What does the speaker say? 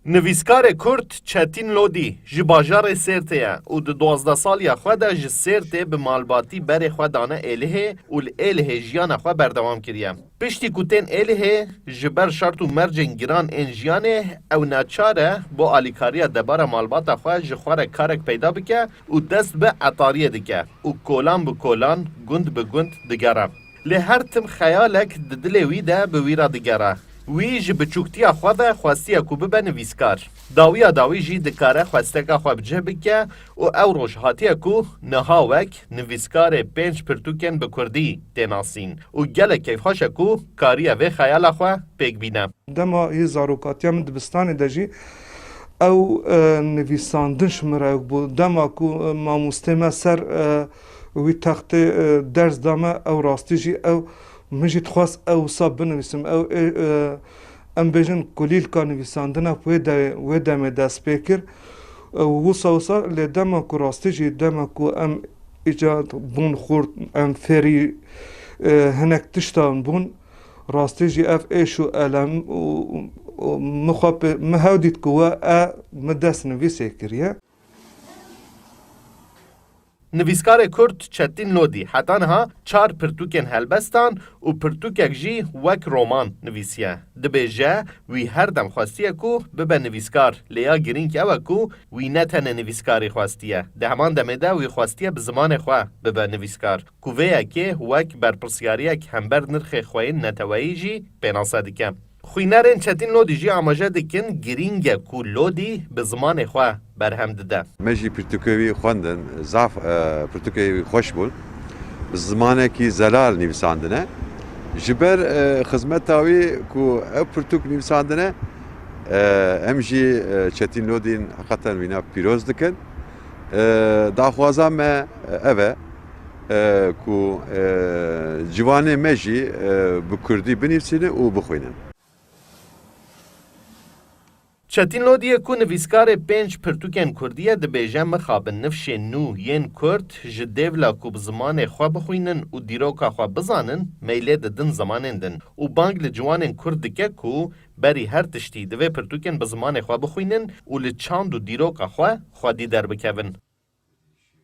Nivîskarê Kurd Çetîn Lodî ji bajarê Sêrtê ye û di duwazdeh saliya xwe de ji Sêrtê bi malbatî berê xwe dane Êlihê û li Êlihê jiyana xwe berdewam kiriye. Piştî ku tên Êlihê, ji ber şert û mercên giran ên jiyanê ew neçar e bo alîkariya debara malbata xwe ji xwe re karek peyda bike û dest bi etariyê dike û kolan bi kolan, gund bi gund digere. Lê her tim xeyalek di dilê wî de bi wî re digere. Wî ji biçûktiya xwe ve xwestiye ku bibe nivîskar. Dawiya dawî jî dikare xwesteka xwe bi cih bike û ew roj hatiye ku niha wek nivîskarê pênc pirtûkên bi kurdî tê nasîn û gelek keyfxweş e ku kariye vê xeyala xwe pêk bîne. Dema yê zarokatiya min dibistanê de jî ew nivîsandin ji min re bû. Dema ku mamostê me ser. û wî textê ders da me, ew rastî jî ew, min jî dixwest ew wisa binivîsim, ew ê em bêjin kulîlka nivîsandina wê dewê wê demê dest pê kir û wisa wisa lê dema ku rastî jî dema ku em îca bûn xurt em fêrî hinek tiştan bûn rastî jî ev êş û elem û min xwe pê min hew dît ku we e min dest nivîsê kiriye. Nivîskarê Kurd Çetîn Lodî heta niha çar pirtûkên helbestan û pirtûkek jî wek roman nivîsiye. Dibêje, wî her dem xwestiye ku bibe nivîskar, lê ya girîng ew e ku wî ne tenê nivîskarî xwestiye, di heman demê de wî xwestiye bi zimanê xwe bibe nivîskar, ku vê yekê wek berpirsyariyek hember nirxê xweyên neteweyî jî pênase dike. Xwînerên Çetîn Lodî jî amaje dikin girîng e ku Lodî bi zimanê xwe berhem dide. Me jî pirtûkê wî xwendin, zaf pirtûkê wî xweş bûn. Bi zimanekî zelal nivîsandine. Ji ber xizmeta wî ku ev pirtûk nivîsandine, em jî Çetîn Lodîn heqeten wîna pîroz dikin. Daxwaza me ev e. ku ciwanê me jî bi kurdî binivîsîne û bixwîne. Çetîn Lodî ye ku nivîskarê pênc pirtûkên kurdî ye dibêje mixabin nifşê nû yên kurd ji dêvla ku bi zimanê xwe bixwînin û dîroka xwe bizanin meylê didin zimanên din û bang li ciwanên kurd dike ku berî her tiştî divê pirtûkên bi zimanê xwe bixwînin û li çand û dîroka xwe xwedî derbikevin.